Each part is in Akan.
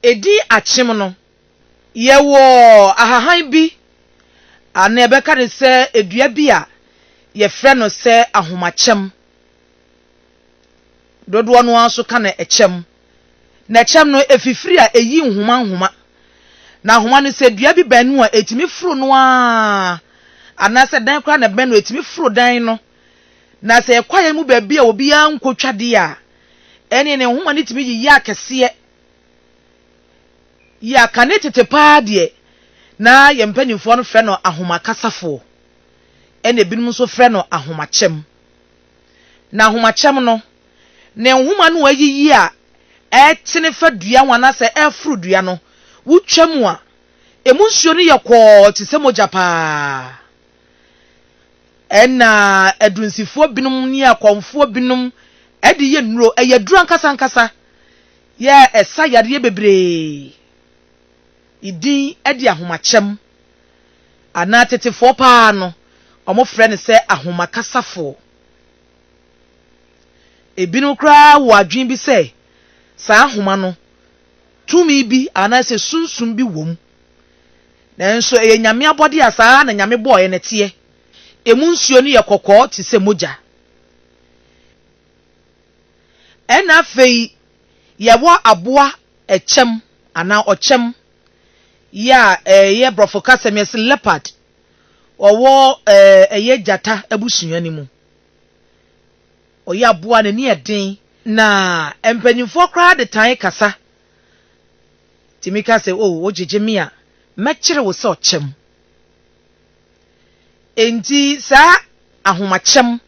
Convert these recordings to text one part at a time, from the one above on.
Edi akyem no, yɛwɔ ahahan bi anaa yɛbɛka no sɛ dua bi a yɛfrɛ no sɛ ahomakyɛm. Dodoɔ no ara nso ka no ɛkyɛm. Na ɛkyɛm no, ɛfifiri a ɛyi nhoma nhoma. Na nhoma no, sɛ dua bi bɛn no a, ɛtumi foro no ara, anaasɛ dan koraa na ɛbɛn no a, ɛtumi foro dan no. Na sɛ ɛyɛ kwaeɛ mu baabi a obiara nkɔtwa deɛ a, ɛnneɛ ne nhoma no tumi yiyi akɛseɛ yɛ akane tete paa deɛ na yɛn mpanimfoɔ no frɛ no ahomakasafo, ɛnna ebinom nso frɛ no ahomakyɛm. Na ahomakyɛm no, ne nhoma no ayiyi a ɛtene fa dua ho anaasɛ ɛforo dua no, wotwa mu a, emu nsuo no yɛ kɔɔ te sɛ mogya paa. Ɛnna adurunsifoɔ binom ne akɔmfoɔ binom de yɛ nnuro, ɛyɛ aduro ankasa ankasa, yɛ ɛsa yareɛ bebree din de ahomakyɛm, anaa tetefoɔ pa ara no, wɔfrɛ no sɛ ahomakasafoo. Ebinom koraa wɔ adwene bi sɛ saa ahoma no tumi bi anaasɛ sunsum bi wom. Nanso ɛyɛ Nyame abɔde a saa ara na Nyame bɔɔɛ no teɛ. Emu nsuo no yɛ kɔkɔɔ te sɛ mogya. Ɛna afei yɛwɔ aboa ɛkyɛm anaa ɔkyɛm yi a ɛyɛ brɔfo kasa mu yɛse leopard. Ɔwɔ ɛyɛ gyata abusua no mu. Ɔyɛ aboa a n'ani yɛ den. Na mpanyinfoɔ koraa de tan kasa tumi ka sɛ, O, wogyegye me a, mɛkyere wo sɛ ɔkyɛm. Enti saa ahomakyɛm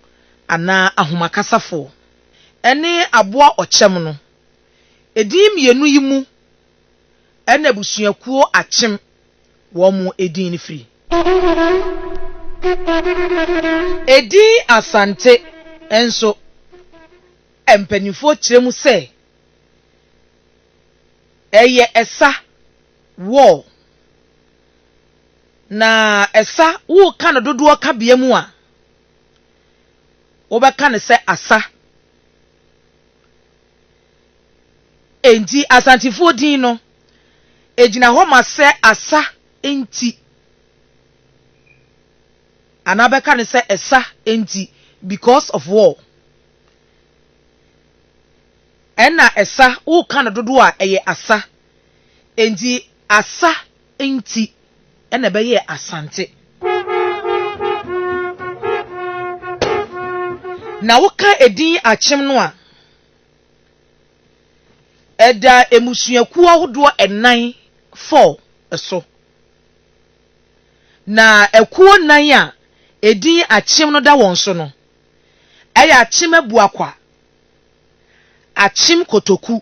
anaa ahomakasafo ne aboa ɔkyɛm no, edin mmienu yi mu na abusuakuo akyem wɔn edin no firi. Edin Asante nso, mpanimfoɔ kyerɛ mu sɛ. Ɛyɛ ɛsa, wall. Na ɛsa, woreka no dodoɔ kabea mu a, wobɛka no sɛ asa. Enti Asantefoɔ din no, ɛgyina hɔ ma sɛ asa nti. Anaa bɛka no sɛ ɛsa nti because of wall. Ɛna ɛsa woka no dodoɔ a ɛyɛ asa enti asa nti ɛna ɛbɛyɛɛ asante. Na woka edin akyem no a ɛda mmusuakuo ahodoɔ ɛnan, four, so. Na akuo nan a edin akyem no da wɔn so no. ɛyɛ akyem abuakwa, akyem kotoku,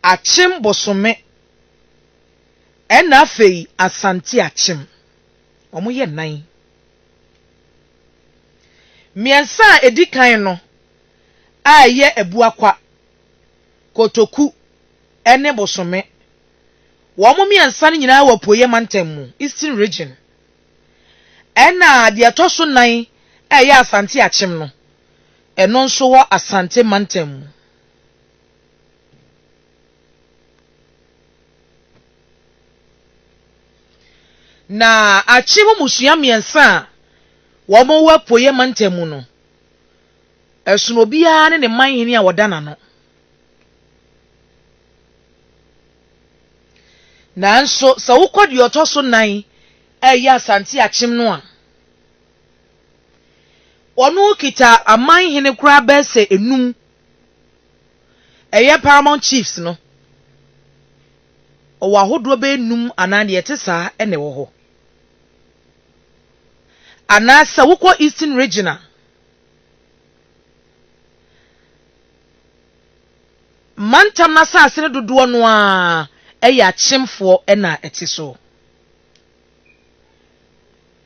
akyem bosome, ɛna afei Asante akyem. Wɔyɛ nnan. Mmiɛnsa a ɛdi kan no a ɛyɛ abuakwa, kotoku, ne bosome, wɔn mmiɛnsa no nyinaa wɔ Apueeɛ Mantam mu, Eastern Region. Ɛna deɛ ɛtɔ so nan a ɛyɛ Asante Akyem no, ɛno nso wɔ Asante mantam mu. Na Akyem mmusua mmiɛnsa a wɔwɔ Apueɛ mantam mu no, ɛsono obiara ne ne manhene a ɔda n'ano. Nanso sɛ wokɔ deɛ ɔtɔ so nan a ɛyɛ Asante Akyem no a, ɔno kita aman hene koraa bɛyɛ sɛ enum, ɛyɛ Paramount Chiefs no. Ɔwɔ ahodoɔ bɛyɛ nnum anaa deɛ ɛte saa na ɛwɔ hɔ. Anaasɛ wokɔ Eastern Region a, mantam no asase no dodoɔ no ara yɛ akyemfoɔ na ɛte so.